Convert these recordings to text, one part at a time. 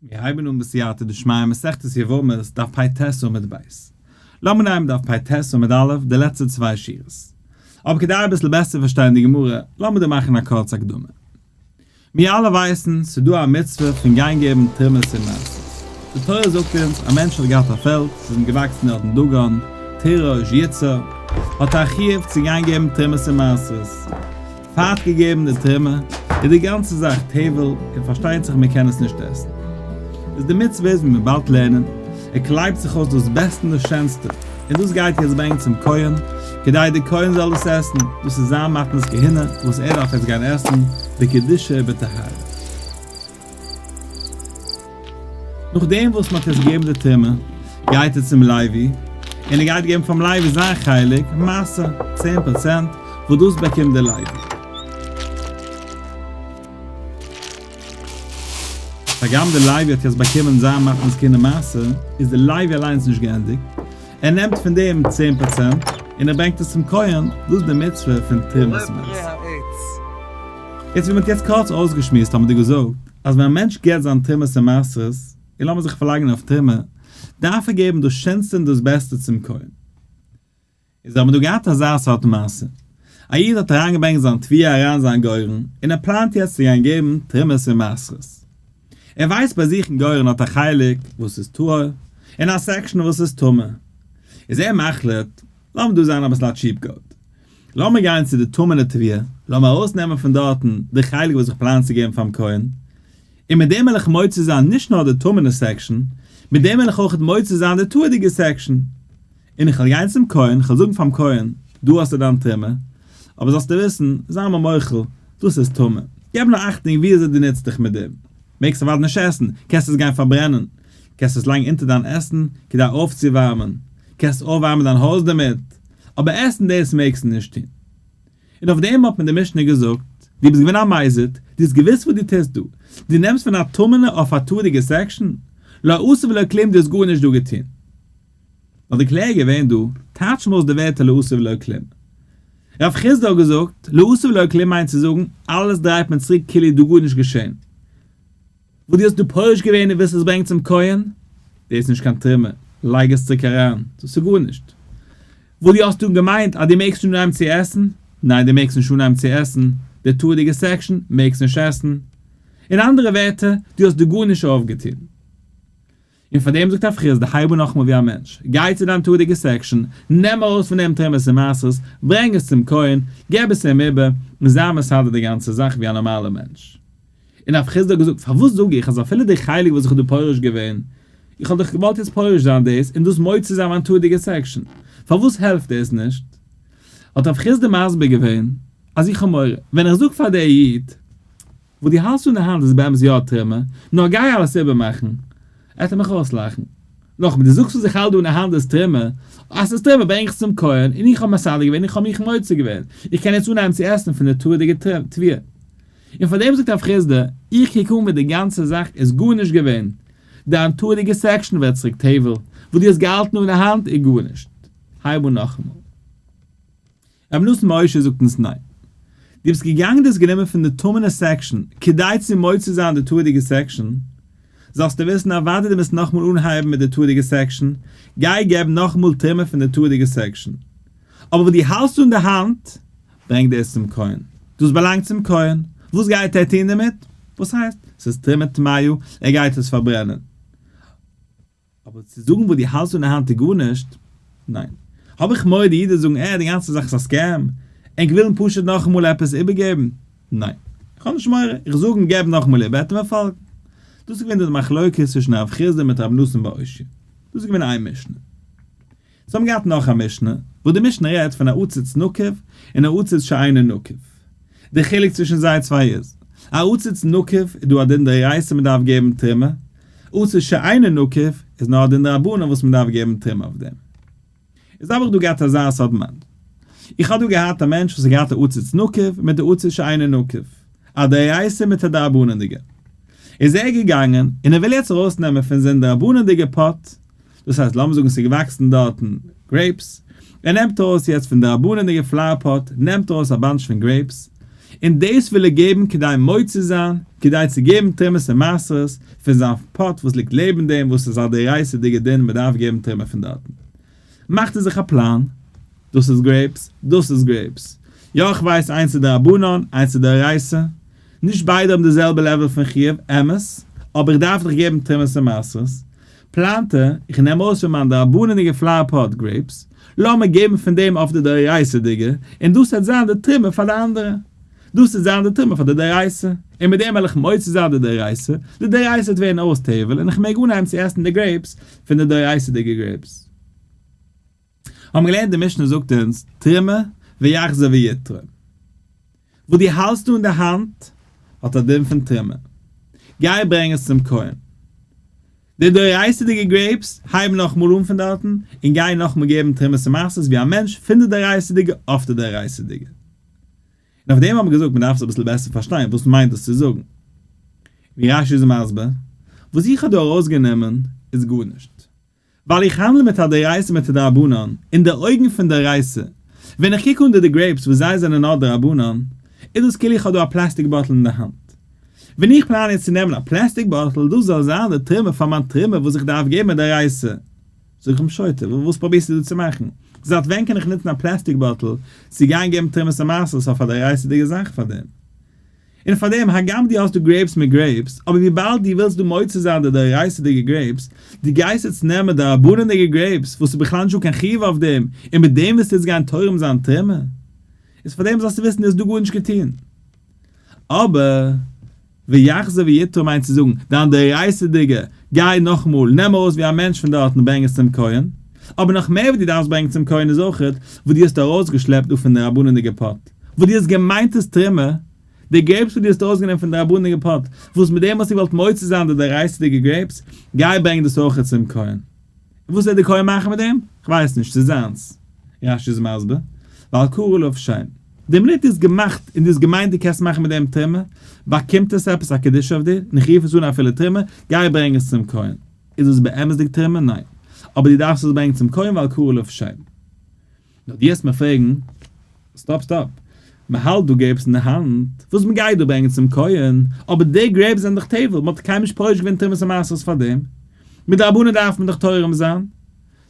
מיר הייבן אן בסייעתא דשמיא מסכת יבמות דף פ ט עמוד ב'. לאמיר נעמען דף פ ט עמוד א' די לעצטע צוויי שורות. אבער כדי אביסל בעסער צו פארשטיין די גמרא, לאמיר דא מאכן א קורצע הקדמה. מיר אלע ווייסן, ס'איז דא א מצוה פון גיין געבן תרומות און מעשרות. די תורה זאגט אונז, א מענטש האט געהאט א פעלד, ס'איז אים געוואקסן דארט אין דגון, תירוש, יצהר. האט ער א חיוב צו גיין געבן תרומות און מעשרות. פעט געגעבן די טרימער איז די גאנצע זאך טייוועל און פארשטייט זיך מען קען עס נישט עסן איז די מצוה איז מען מען באלד לערנען ער קלייבט זיך אויס דאס בעסטע און דאס שענסטע און דאס גייט יעצט ברענגען צום כהן כדי די כהן זאל עס עסן דאס איז זיין מתנת כהונה וואס ער דארף יעצט גיין עסן בקדושה ובטהרה. נאכדעם וואס מען האט יעצט געגעבן די טעימה, גייט ער צום לייבי, און ער גייט געבן פאר'ן לייבי זיין חלק, מעשר, צען פראצענט, וואס דאס באקומט דער לייבי. הגם דער לייבי האט יעצט באקומען זיין מתנת קינדער מעשר, איז דער לייבי אליינס נישט געענדיגט, ער נעמט פון דעם צען פראצענט און ער ברענגט עס צום כהן, דאס איז די מצוה פון תרומת מעשר. יעצט ווי מען האט יעצט קורץ אויסגעשמועסט האט מען דא געזאגט אז ווען א מענטש געבט זיין תרומת און מעשרות, און לאמיר זיך פארלייגן אויף תרומה, דארף ער געבן דאס שענסטע און דאס בעסטע צום כהן. איז האט מען דא געהאט אזא סארט מעשה, א איד האט אריינגעברענגט זיין תביעה אריין אין זיין גורן, און ער פלאנט יעצט צו גיין געבן תרומת און מעשרות, ער ווייסט ביי זיך אין גורן האט א חלק וואס איז טהור און א סעקשאן וואס איז טמא, איז ער מחליט לאמיר דא זיין אביסל א טשיעפ גאוט, לאמיר גיין צו די טמא'נע תביעה, לאמיר ארויסנעמען פון דארטן די חלק וואס איך פלאן צו געבן פארן כהן, און מיט דעם וועל איך מוציא זיין נישט נאר די טמא'נע סעקשאן, מיט דעם וועל איך אויך מוציא זיין די טהור'דיגע סעקשאן. און איך וועל גיין צום כהן, איך וועל זאגן פאר'ן כהן, דא האסטו דיין טומאה, אבער זאלסטו וויסן, זיי מיר מוחל, דאס איז טמא. געב נאר אכטונג ווי אזוי דו נוצט דיך מיט דעם. מעגסט אוודאי נישט עסן, קענסט עס גיין פארברענען, קענסט עס לייגן אונטער דיין עסן כדי אויפצואווארמען, קענסט אויפווארמען דיין הויז דערמיט, אבער עסן דאס מעגסטו נישט טון. און אויף דעם האט מיר די משנה געזאגט, דו ביסט געווען א מזיד, דו האסט געוואוסט וואס דו טוסט דא, דו נעמסט פון א טמא'נע אויף א תורה'דיגע סעקשאן? לא עשה ולא כלום, דו האסט גארנישט דא געטון. האט די קלער געווען דא טייטש מוז די ווערטער לא עשה ולא כלום. ר' חיסדא האט געזאגט לא עשה ולא כלום מיינט צו זאגן אלעס דרייט מען צוריק כאילו איז דא גארנישט געשען. וואס דו האסט דא פורש געווען און ווילסט עס ברענגן צום כהן, דאס איז נישט קיין תרומה, לייג עס צוריק אריין, דאס איז גארנישט. וואס דו האסט דא געמיינט אז דו מעגסט נישט אנהייבן צו עסן, ניין דו מעגסט נישט אנהייבן צו עסן, די תורה'דיגע סעקשאן מעגסט נישט עסן. אין אנדערע ווערטער, דו האסט דא גארנישט אויפגעטון. און פאר דעם זאגט הפכי אז די הייבו נאכמאל ווי א מענטש, גיי צו דיין תורה'דיגע סעקשאן, נעם ארויס פון דעם תרומות און מעשרות, ברענג עס צום כהן, געב עס אים איבער, און זיי מסדר די גאנצע זאך ווי א נארמאלע מענטש. און הפכי האט געזאגט, פארוואס זאג איך אז אפילו די חלק וואס איך האב דא פורש געווען, איך האב דאך געוואלט יעצט פורש זיין דאס און דאס מוציא זיין מיין תורה'דיגע סעקשאן, פארוואס העלפט דאס נישט? האט הפכי די מסביר געווען, אז איך האב מורא, ווען איך זאג פאר די איד, וואס דו האלסט און די האנט איז באמת יא א טרימער, נאר גיי אלעס איבערמאכן, עט ער מיך אויסלאכן. נאכמער, דו זאגסט וואס איך האלט דא אין די האנט איז טרימער, אז ס'איז טרימער ברענג איך צום כהן, און איך האב מסדר געווען, איך האב מיך מוצא געווען, איך קען יעצט אנהייבן צו עסן פון די תורה'דיגע תביעה. און פאר דעם זאגט רב חיסדא, איך קוק אן ווי די גאנצע זאך איז גארנישט געווען, דיין תורה'דיגע סעקשאן ווערט צוריק טבל, וואס דו האסט געהאלטן און די האנט איז גארנישט, הייב אן נאכאמאל. רבי נתן משה זאגט אונז ניין, דו ביסט געגאנגען דאס גענומען פון די טמנ'ע סעקשאן כדי צו מוציא זיין די תורה'דיגע סעקשאן, זאלסטו וויסן אז וויידער דו וועסט נאכאמאל אנהייבן מיט די תורה'דיגע סעקשאן, גיי געב נאכאמאל טעימה פון די תורה'דיגע סעקשאן. אבער וואס דו האלסט און די האנט, ברענג דאס צום כהן, דאס באלאנגט צום כהן, וואס גייט ער טון דערמיט? וואס הייסט? ס'איז טמא טמאיו, ער גייט עס פארברענען. אבער צו זאגן וואס דו האלסט פון די האנט איז גארנישט, ניין. האב איך מורא די אידעס זאגן אה די גאנצע זאך איז א סקעם, ענק ווילן פשוט נאכאמאל עפעס איבערגעבן, ניין. איך האב נישט מורא, איך זאג און געב נאכאמאל איבער וועט ער מיר פאלגן. דאס איז געווען די מחלוקת צווישן הרב חיסדא מיט רבי נתן בער אוישי. דאס איז געווען איין משנה. זיי האבן געהאט נאך א משנה, וואו די משנה רעדט פון א עציץ נוקב און א עציץ שאינו נוקב. דער חילוק צווישן זיי צוויי איז, א עציץ נוקב איז דא א דין דאורייתא מען דארף געבן תרומה, עציץ שאינו נוקב איז נאר א דין דרבנן וואס מען דארף געבן תרומה אויף דעם. איז האב איך דא געהאט אזא סארט מעמד. איך האב דא געהאט א מענטש וואס האט געהאט א עציץ נוקב מיט א עציץ שאינו נוקב, א דאורייתא מיט א דרבנן'דיגע. איז ער געגאנגען און ער וויל יעצט ארויסנעמען פון זיין דרבנן'דיגע פאט, דאס הייסט לאמיר זאגן עס איז געוואקסן דארטן גרעיפס, ער נעמט ארויס יעצט פון די רבני'דיגע פלאוער פאט נעמט ער ארויס א באנטש פון גרעיפס, און דאס וויל ער געבן כדי מוציא זיין, כדי צו געבן תרומות און מעשרות פון זיין פאט וואס ליגט לעבן דעם וואס איז א דאורייתא'דיגע דין מען דארף געבן תרומה פון דארטן. מאכט ער זיך א פלאן, דאס איז גרעיפס, דאס איז גרעיפס, יא איך ווייס איינס איז דרבנן איינס איז דאורייתא, נישט ביידע האבן די זעלבע לעוועל פון חיוב, אמת, אבער איך דארף דאך געבן תרומות און מעשרות, פלאנטע, איך נעם אויס פון מיין דרבנן'דיגע פלאר פאט גרעיפס, לאמיר געבן פון דעם אויף די דאורייתא'דיגע, און דאס העט זיין די תרומה פאר די אנדערע. דאס העט זיין די תרומה פאר די דאורייתא, און מיט דעם העל איך מוציא זיין די דאורייתא, די דאורייתא העט ווערן אויס תבל, און איך מעג אנהייבן צו עסן די גרעיפס פון די דאורייתא'דיגע גרעיפס. האבן מיר געלערנט די משנה זאגט אונז תרומה ויחזור ויתרום וואס דו האלסט דא אין די האנט האט א דין פון תרומה גיי ברענג עס צום כהן די דאורייתא'דיגע גרעיפס הייב נאכמאל אן פון דארטן און גיי נאכמאל געבן תרומות און מעשרות ווי א מענטש פון די דאורייתא'דיגע אויף די דאורייתא'דיגע און אויף דעם האבן מיר געזאגט מ'דארף עס אביסל בעסער פארשטיין וואס מיינט דאס צו זאגן ווי רש י איז מסביר וואס איך האב דא ארויסגענומען איז גארנישט. ווייל איך האנדל מיט א דאורייתא מיט א דרבנן, אין די אויגן פון דאורייתא, ווען איך קוק אן די די גרעיפס וואס זיי זענען נאר דרבנן, איז דאס כאילו איך האב דא א פלעסטיק באטל אין די האנט. ווען איך פלאן יעצט צו נעמען א פלעסטיק באטל, דאס זאל זיין די תרומה פאר מיין תרומה וואס איך דארף געבן מדאורייתא. זאג איך אים שוטה, וואס פרובירסטו דא צו מאכן? זייט ווען קען איך נוצן א פלעסטיק באטל צו גיין געבן תרומת המעשר, ס'איז דאך א דאורייתא'דיגע זאך פאר דעם. און פארדעם הגם דו האסט דא גרעיפס מיט גרעיפס, אבער וויבאלד דו ווילסט דא מוצא זיין די דאורייתא'דיגע גרעיפס, דו גייסט יעצט נעמען דרבנן'דיגע גרעיפס וואס איז בכלל נישט דא קיין חיוב אויף דעם, און מיט דעם ווילסטו יעצט גיין תורם זיין תרומה? איז פארדעם זאלסטו וויסן דו האסט דא גארנישט געטון. אבער ויחזור ויתרום מיינט צו זאגן, דיין דאורייתא'דיגע, גיי נאכאמאל, נעם ארויס ווי א מענטש פון דארט און ברענג עס צום כהן. אבער נאך מער וואס דו דארפסט ברענגן צום כהן איז אויך וואס דו האסט ארויסגעשלעפט דא פון די רבני'דיגע פאט, וואס דו האסט געמיינט איז תרומה, די גרעיפס וואס דו האסט ארויסגענומען פון די רבני'דיגע פאט, וואס מיט דעם האסטו געוואלט מוציא זיין די דאורייתא'דיגע גרעיפס, גיי ברענג דאס אויך צום כהן. און וואס וועט די כהן מאכן מיט דעם? כ'ווייס נישט, ס'איז זיינס. רש י איז מסביר, ועל כרעו לב שוין. די מינוט דו האסט געמאכט און דו האסט געמיינט דו קענסט מאכן מיט דעם תרומה, באקומט עס עפעס א קדושה אויף דיר, און איך רוף עס אן אפילו תרומה, גיי ברענג עס צום כהן. איז עס באמת'דיג טעמע? ניין. אבער דו דארפסט עס ברענגן צום כהן ועל כרעו לא יפשעו. נאר דו העסט מיר פרעגן, סטאפ סטאפ, מען האלט דא גרעיפס אין די האנט, וואס מען גייט דא ברענגן צום כהן, אבער די גרעיפס זענען דאך טבל, מען האט דאך קיינמאל נישט פורש געווען תרומת המעשרות פאר דעם, מדרבנן דארף מען דאך תורם זיין.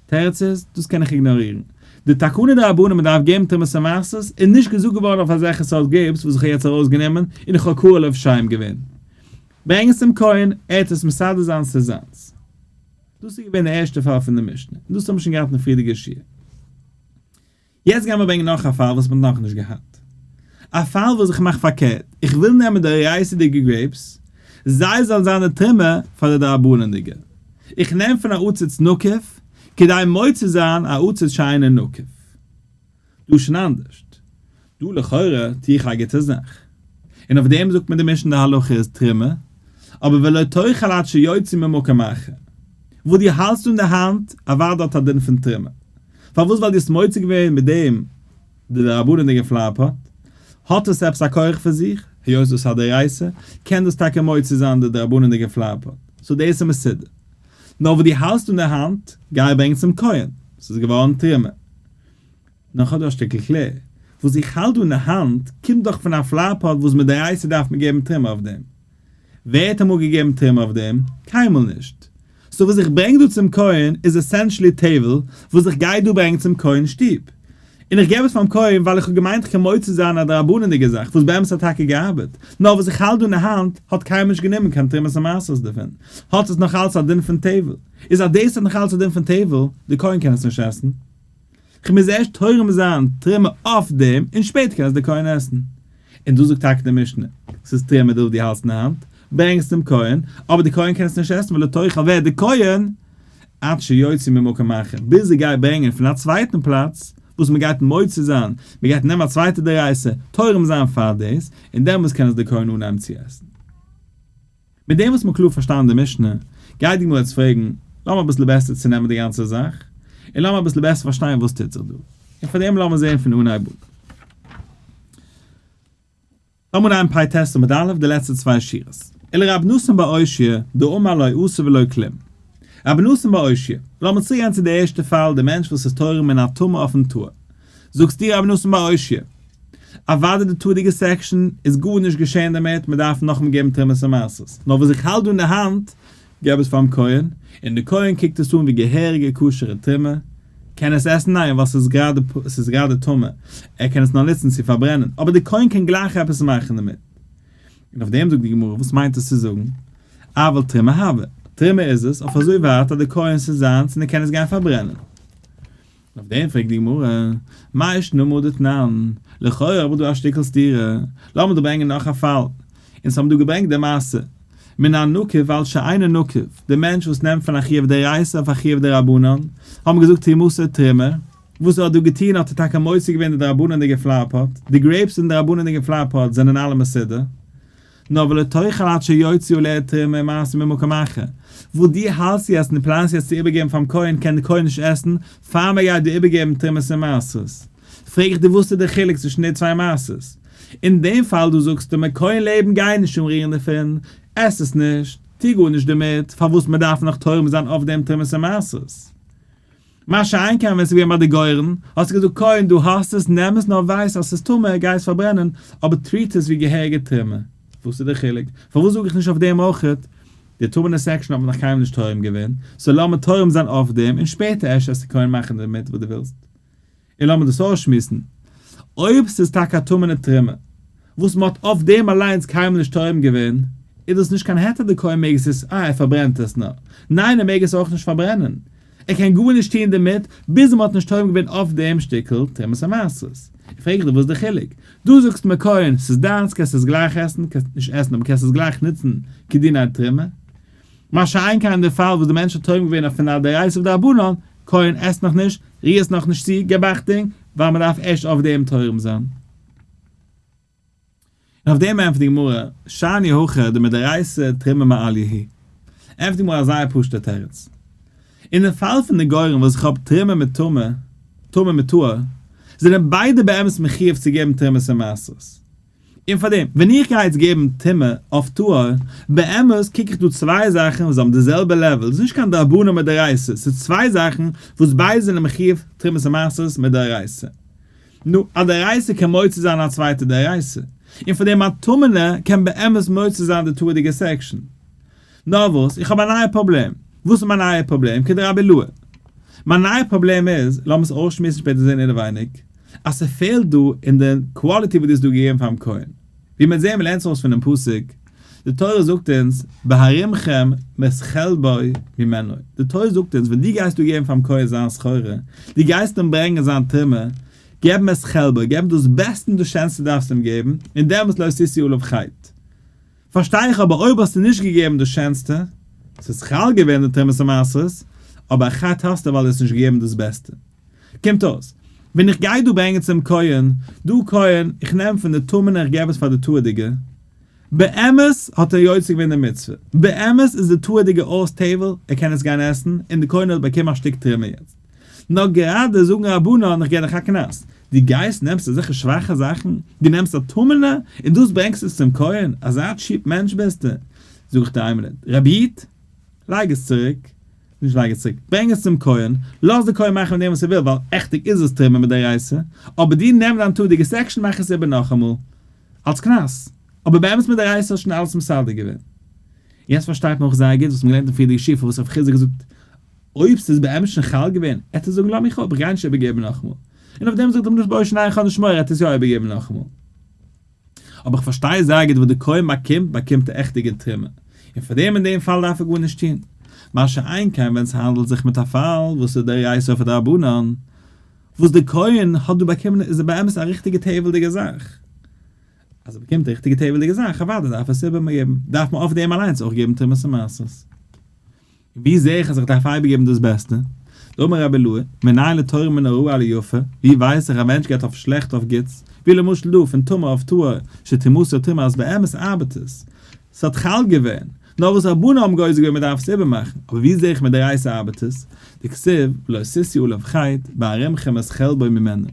תירוץ איז, דאס קען איך איגנארירן. די תקנה דרבנן מען דארף געבן תרומת המעשרות איז נישט געזאגט געווארן אויף אזעלכע סארט גרעיפס וואס איך האב יעצט ארויסגענומען און איך האב כרעו לא יפשעו'ם געווען. ברענג עס צום כהן, ער וועט עס מסדר זיין ס'זיינס. דאס איז געווען די ערשטע פאל פון די משנה, און דאס האבן מיר שוין געהאט אין די פריערדיגע שיעור. יעצט גיימיר ברענגען נאך א פאל וואס מ'האט נאכנישט געהאט. א פאל וואס איך מאך פארקערט, איך וויל נעמען די רייסעדיגע גרעיפס, זיי זאלן זיין די טעמע פאר די דרבנן'דיגע. איך נעם פון א עציץ נוקב, כדי מוציא זיין א עציץ שיינע נוקב. דא שוין אנדערשט. דא לכאורה טוה איך א גוטע זאך. און אויף דעם זאגט מיר די משנה די הלכה איז תרומה, אבער ולא תאכל עד שיוציא ממקום אחר. וואס דו האלטסט אן די האנט, אוודאי האט א דין פון תרומה. פארוואס ווייל דו האסט מוציא געווען מיט דעם די דרבנן'דיגע פלאר פאט, האט עס עפעס א כח פון זיך, היות דאס איז א דאורייתא, קען דאס טאקע מוציא זיין די דרבנן'דיגע פלאר פאט. סאו דאס איז מסודר. נאר וואס דו האלטסט אן די האנט, גיי ברענג צום כהן, ס'איז געווארן תרומה. נאך האט דא א שטיקל כלי וואס איך האלט דא אין די האנט קומט דאך פון א פלאר פאט וואס מדאורייתא דארף מען געבן טערמא אויף דעם. ווער האט אמאל געגעבן טערמא אויף דעם? קיינמאל נישט. סאו וואס איך ברענג דא צום כהן איז עסענשעלי טעוול וואס איך גיי דא ברענגן צום כהן שטוב. און איך געב עס פארן כהן ווייל איך האב געמיינט איך קען מוציא זיין א דרבנן'דיגע זאך וואס באמת האט טאקע געארבעט. נאר וואס איך האלט דא אין די האנט האט קיינמאל נישט גענומען קיין תרומת המעשרות דערפון. האט עס נאך אלץ א דין פון טעוול. איז אז דאס האט נאך אלץ א דין פון טעוול, די כהן קען עס נישט עסן. כ'מוז ערשט תורם זיין תרומה אויף דעם און שפעטער קען עס דער כהן עסן. און דא זאגט טאקע די משנה, ס'איז טמא דארף דו האלסט אין די האנט, ברענג עס צום כהן, אבער דער כהן קען עס נישט עסן ולא תאכל ווערט דער כהן עד שיוציא ממקום אחר, ביז ער גייט ברענגען פון א צווייטן פלאץ, וואס מען גייט מוציא זיין, מען גייט נעמען א צווייטע דערייסער, תורם זיין פאר דאס, און דעמאלס קען עס דער כהן אנהייבן צו עסן. מיט דעם וואס מ'האט קלאר פארשטאנען די משנה, גייט די גמרא יעצט פרעגן, לאמיר אביסל בעסער צונעמען די גאנצע זאך, און לאמיר אביסל בעסער פארשטיין וואס טוט זיך דא. און פאר דעם לאמיר זען פון אנהייב אן. לאמיר נעמען פאי טעסט עמוד א', די לעצטע צוויי שורות. אלא רבי נתן בר אושיה, דאמר לא עשה ולא כלום. רבי נתן בר אושיה, לאמיר צוריקגיין צו די ערשטע פאל, די מענטש וואס איז תורם מן התמר אויפן תאוה. זאגסט דיר רבי נתן בר אושי', אוואדי די תורה'דיגע סעקשאן איז גארנישט געשען דערמיט, מען דארף נאכאמאל געבן תרומות און מעשרות, נאר וואס איך האלט דא אין די האנט, געב עס פארן כהן, און די כהן קוקט עס אן ווי געהעריגע כשר'ע תרומה, קען עס עסן? ניין, ווייל עס איז גראדע טמא, ער קען עס נאר נוצן צו פארברענען, אבער די כהן קען גלייך עפעס מאכן דערמיט. און אויף דעם זאגט די גמרא, וואס מיינט עס צו זאגן, אבל תרומה הוה, תרומה איז עס, אויף אזוי ווייט אז די כהן'ס איז זיינס און ער קען עס גיין פארברענען. אויף דעם פרעגט די גמרא, מאי שנאמר דתנן, לכאורה האב איך דא א שטיקל סתירה, לאמיר דא ברענגען נאך א פאל, אונז האבן דא געברענגט די מעשה, מן הנוקב אל שאינו נוקב, די מענטש וואס נעמט פון א חיוב דאורייתא אויף א חיוב דרבנן, האבן געזאגט תרומות עד תרומה, וואס ער האט דא געטון האט ער טאקע מוציא געווען די דרבנן'דיגע פלאר פאט, די גרעיפס אין דרבנן'דיגע פלאר פאט זענען אלע מסודר, נאר ולתוכן עד שיוציאו לאתרוה ממעשה ממקום אחר, וואס דו האלטסט יעצט און פלאנסט יעצט צו איבערגעבן פאר'ן כהן קען דער כהן נישט עסן פאר מען גייט דיר איבערגעבן תרומת ומעשרות, פרעג איך דיר וואס איז דער חילוק צווישן די צוויי מעשות? אין דעם פאל דא זאגסטו מיט כהן לעבן גיי נישט אנרירן דערפון, עס עס נישט, טו גארנישט דערמיט, פארוואס מען דארף נאך תורם זיין אויף דעם תרומת ומעשרות? מה שאין כן ווען ס'איז געווען ביי די גורן, האסטו געזאגט קודם דו האסט עס, נעם עס נאר ווייס אז ס'איז טמא, גיי עס פארברענען, אבער טריט עס ווי געהעריגע טרימער. וואס איז די חילוק? פארוואס זאג איך נישט אויף דעם אויך? די טמא'נע סעקשאן האט מען נאך קיינמאל נישט תורם געווען, סאו לאמיר תורם זיין אויף דעם, און שפעטער אפשר עסטו קונה מאכן דערמיט וואס דו ווילסט. און לאמיר דאס אויסשמועסן. אויב ס'איז טאקע א טמא'נע טרימער, וואס מ'האט אויף דעם אליינס קיינמאל נישט טועם געווען, איז דאס נישט קיין היתר דקא און מעג עס עסן, אה, ער פארברענט עס נאר. ניין, ער מעג עס אויך נישט פארברענען. ער קען גארנישט טוען דערמיט, ביז מ'האט נישט טועם געווען אויף דעם שטיקל תרומת המעשרות. איך פרעג דיך וואס איז די חילוק? דו זאגסט מיר קוין, ס'איז דיינס, קענסט עס גלייך עסן, קענסט נישט עסן אבער קענסט עס גלייך נוצן כדין א טרימער. מה שאין כן אין די פאל וואס די מענטש האט תורם געווען אויף אן דאורייתא ודרבנן, כהן עסט נאך נישט, ריהט נאך נישט צו, געב אכטונג, ווייל מען דארף ערשט אויף דעם תורם זיין. און אויף דעם ענטפערט די גמרא, שאני הכא דמדאורייתא תרומה מעליא היא. ענטפערט די גמרא א זייער פשוט'ער תירוץ. אין די פאל פון די גרים וואס איך האב תרומה מיט טומאה, טומאה מיט טהור, זענען ביידע באמת מחיוב צו געבן תרומות און מעשרות. און פאר דעם, ווען איך גיי יעצט געבן טעמע אויף טהור, באמת קוק איך דא צוויי זאכן וואס האבן די זעלבע לעוועל, ס'איז נישט קיין דרבנן מיט דאורייתא, ס'איז צוויי זאכן וואס ביידע זענען מחיוב תרומת המעשרות מיט דאורייתא. נו, א דאורייתא קען מוציא זיין א צווייטע דאורייתא, און פאר דעם א טמא'נער קען באמת מוציא זיין די טהור'דיגע סעקשאן. נאר וואס? איך האב א נייע פראבלעם. וואס איז מיין נייע פראבלעם? קען די רבי לוע. מיין נייע פראבלעם איז, לאמיר עס אויסשמועסן שפעטער זעהן אינעווייניג, אז ס'פעלט דא אין די קוואליטי וואס דו האסט דא געגעבן פארן כהן. ווי מ'עט זעהן מ'לערנט עס אויס פונעם פסוק, די תורה זאגט אונז, בהרימכם מחלבו ממנו, די תורה זאגט אונז ווען דו גייסט דא געבן פארן כהן זיין סחורה, דו גייסט אים ברענגען זיין תרומה, געב אים מחלבו, געב אים דאס בעסטע און דאס שענסטע דארפסטו אים געבן, און דעמאלטס לא תשיא עליו חטא. פארשטיי איך אבער אויב האסטו נישט געגעבן דאס שענסטע, ס'איז חל געווען די תרומת המעשרות, אבער ח ת האסטו ווייל דו האסט נישט געגעבן דאס בעסטע. קומט אויס, ווען איך גיי דא ברענגען צום כהן, דו כהן, איך נעם פון די טמא'נע איך געב עס פאר די תורה'דיגע, באמת האט ער יוצא געווען די מצוה, באמת איז די תורה'דיגע אויס תבל, ער קען עס גיין עסן, און די כהן האט באקומען א שטיק תרומה יעצט. נאר גראדע זאגן רבונו און איך גיי דיך א קנס, דו גייסט נעמסט אזעלכע שוואכע זאכן, דו נעמסט א טמא'נע און דאס ברענגסט עס צום כהן, אזא טשיפ מענטש ביסטו, זאג איך דיר איימינוט, רבי איד, לייג עס צוריק, נישט לייג עס צוריק, ברענג עס צום כהן, לאז די כהן מאכן מיט דעם וואס ער וויל, ווייל עכטיג איז עס טריפה מדאורייתא, אבער דו נעם דיין טאג די געסט עקשן מאך עס איבער נאכאמאל, אלס קנס, אבער באמת מדאורייתא האסט שוין אלעס מסדר געווען. יעצט פארשטייט מען אויך זייער גוט וואס מען געלערנט אין פריערדיגע שיעור פארוואס רב חיסדא האט געזאגט אויב ס'איז באמת שוין חל געווען, עט ער זאגן לאמיר איך האב, גייען נישט איבערגעבן נאכאמאל. און אויף דעם זאגט אים הקדוש ברוך הוא ניין איך האב נישט מורא, עט עס יא איבערגעבן נאכאמאל. אבער איך פארשטיי זייער גוט וואס די כהן באקומט, באקומט ער עכט די גוט טרימער, און פאר דעם אין דעם פאל דארף ער גארנישט טון. מה שאין כן ווען ס'האנדלט זיך מיט א פאל וואס איז דאורייתא אויף א דרבנן, וואס די כהן האט דא באקומען איז באמת א ריכטיגע טבע'דיגע זאך. אז ער באקומט א ריכטיגע טבע'דיגע זאך, אוודאי דארף ער עס איבערגעבן, דארף מען אויף דעם אליינס אויך געבן תרומת המעשר. ווי זע איך אז איך דארף אייביג געבן דאס בעסטע? דאמר רבי לוי, מנין לתורה מן הרעה אל יפה, ווי ווייס איך אז מענטש געט אויף שלעכט אויף גוטס, ווי למשל דא פון טמא אויף טהור, שתימסר טומאה אז באמת ארבעט עס, ס'האט חל געווען, נאר וואס רבנן האבן גוזר געווען מ'דארף עס איבערמאכן, אבער ווי זע איך מדאורייתא ארבעט עס? דכתיב, לא ששי עליו חית, בארמכם את חלבו ממנו.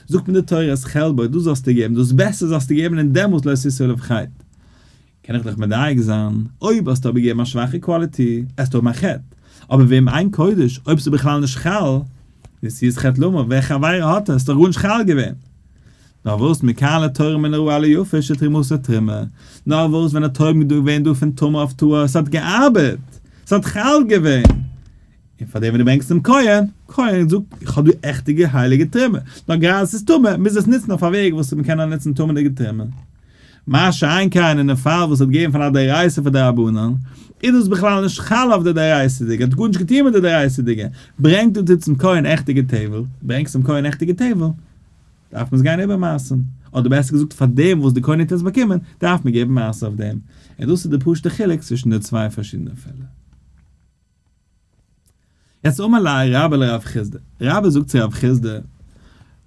זאגט מיר די תורה את חלבו, דאס זאלסטו געבן, דאס בעסטע זאלסטו געבן און דעמאלס לא ששי עליו חית. קען איך דיך מדייק זיין, אויב האסטו אבער געגעבן א שוואכע קוואליטי, עסטו האבן א חטא, אבער וועם עיין קודש אויב ס'איז בכלל נישט חל, נשיאת חטא למה, ווער חברה האט עס, ס'איז דאך גארנישט חל געווען. נארוואס מקהלה תורה מן הרעה ליפה שתרמוסה תרמה, נארוואס ווען האט טויבן געווען דא פון טומאה אויף טהור, ס'האט געארבעט, ס'האט חל געווען, און פאר דעם ווען דו ברענגסט צום כהן, כהן זאגט איך האב דא עכטיגע הייליגע תרומה, נאר גראדע ס'איז טמא מוז עס נוצן אויף א וועג וואס מ'קען נאר נוצן טמא'דיגע תרומה. מה שאין כן אין דעם פאל וואס ער האט געגעבן פאר א דאורייתא פאר דרבנן, איז דאס בכלל נישט חל אויף די דאורייתא'דיגע, האט גארנישט געטון מיט די דאורייתא'דיגע, ברענג דו די צום כהן עכטיגע טעוועל, ברענגסט צום כהן עכטיגע טעוועל, דארף מען עס גיין איבערמאסן, אדער בעסער געזאגט פאר דעם וואס די כהן העט עס באקומען, דארף מען געבן מעשר אויף דעם, און דאס איז די פשוט'ע חילוק צווישן די צוויי פארשידענע פעלער. יעצט אמר לה רבה לרב חיסדא, רבה זאגט צו רב חיסדא,